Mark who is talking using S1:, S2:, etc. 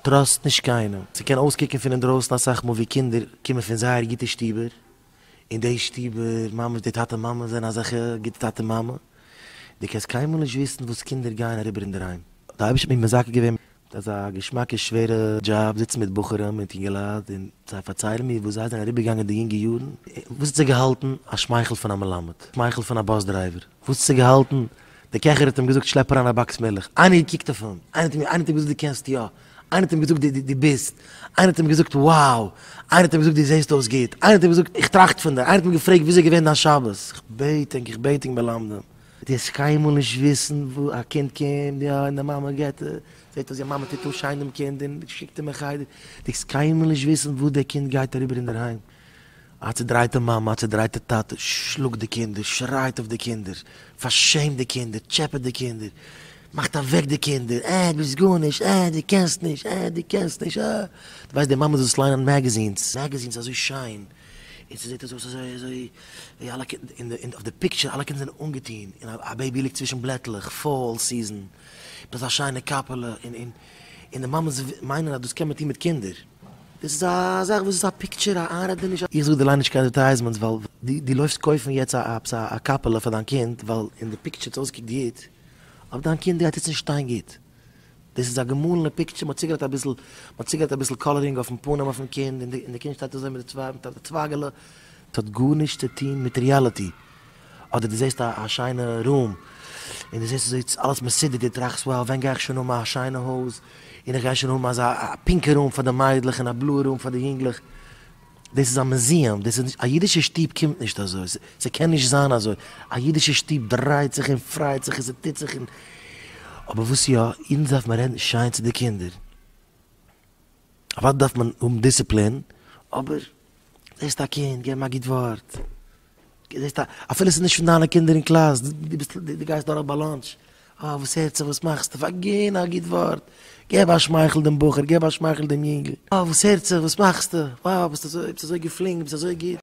S1: טראסט נישט קיינעם, ס'קען אויסקוקן פון אינדרויסן אסאך מאל ווי קינדער קומען פון זייער גוטע שטובער, אין די שטובער ממש די טאטע מאמע זענען אזעלכע גוטע טאטע מאמע, דו קענסט קיינמאל נישט וויסן וואס קינדער גייען אריבער אינדערהיים. די אייבערשטער האט מיר מזכה געווען מיט אזא געשמאקע שווערע דזשאב, זיצן מיט בחורים מיט אינגעלייט און זיי פארציילן מיר וואס זיי זענען אריבערגעגאנגען די יונגע יארן, וואס האט זיך געהאלטן א שמייכל פון א מלמד, שמייכל פון א באס דרייווער, וואס האט זיך געהאלטן דער קעכער האט אים געזאגט שלעפ אריין א באקס מילך, איינער האט געקוקט אויף אים, איינער האט אים איינער האט אים געזאגט דו קענסט יא, איינער האט אים געזאגט דו דו ביסט, איינער האט אים געזאגט וואו, איינער האט אים געזאגט דו זעסט אויס גוט, איינער האט אים געזאגט איך טראכט פון דיר, איינער האט אים געפרעגט וויאזוי איז געווען דיין שבת, איך בעט ענק איך בעט ענק מלמדים, דו וועסט קיינמאל נישט וויסן וואו א קינד קומט יא און די מאמע געבט זעט אז די מאמע טוט אן שיין דעם קינד און שיקט אים אין חדר, דו וועסט קיינמאל נישט וויסן וואס דער קינד גייט אריבער אינדערהיים. א צעדרייטע מאמע, א צעדרייטע טאטע, שלאגט די קינדער, שרייט אויף די קינדער, פארשעמט די קינדער, טשעפעט די קינדער, מאכט אוועק די קינדער, אה, ביסט גארנישט, אה, דו קענסט נישט, אה, דו קענסט נישט, אה. דו ווייסט די מאמעס וואס ליינען מעגעזינס, מעגעזינס אזוי שיין, און ס'זעט אויס אזוי אזוי, ווי אלע קינ, און די, אויף די פיקטשער, אלע קינדער זענען אנגעטון, און א בעיבי ליגט צווישן בלעטלעך, פאול סיזען, מיט אזא שיינע קאפעלע, און, און, און די מאמעס מיינען אז דאס קען מען טון מיט קינדער. דאס איז א זאך וואס איז א פיקטשער א איינרעדעניש. איך זאג דיר ליין נישט קיין אדערטייזמענטס ווייל דו לויפסט קויפן יעצט א עפעס א קאפעלע פאר דיין קינד ווייל אין די פיקטשער האט אויסגעקוקט גוט אבער דיין קינד גייט יעצט נישט שטיין גוט דאס איז א געמאלענע פיקטשער מען האט צוגעלייגט אביסל מען האט צוגעלייגט אביסל קאלערינג אויפן פנים אויפן קינד און די קינד שטייט אזוי מיט די צוויי מיט א צווייגעלע ס'האט גארנישט צו טון מיט ריעליטי אדער דו זעסט א שיינע רום און דו זעסט אזוי אלעס מסודר דו טראכסט wow ווען גיי איך שוין האבן א שיינע הויז און איך גיי שוין האבן אזא א פינקע רום פאר די מיידלעך און א בלויע רום פאר די יונגלעך. דאס איז א מוזיעם דאס איז נישט א אידישע שטוב קומט נישט אזוי ס'קען נישט זיין אזוי א אידישע שטוב דרייט זיך און פרייט זיך און ס'טוט זיך און אבער וואס יא אונז דארף מען רעדן שיין צו די קינדער אוודאי דארף מען האבן דיסציפלין אבער זעסט א קינד גיב אים א גוט ווארט. זעסט אפילו ס'איז נישט פון דיינע קינדער אין קלאס, דו ביסט דו גייסט דורך ביי לאנטש, אה וואס הערט זיך וואס מאכסטו, פארגין א גוט ווארט, געב א שמייכל דעם בחור, געב א שמייכל דעם יונגל, אה וואס הערט זיך וואס מאכסטו, וואו ביסט אזוי ביסט אזוי געפלינקט ביסט אזוי גוט.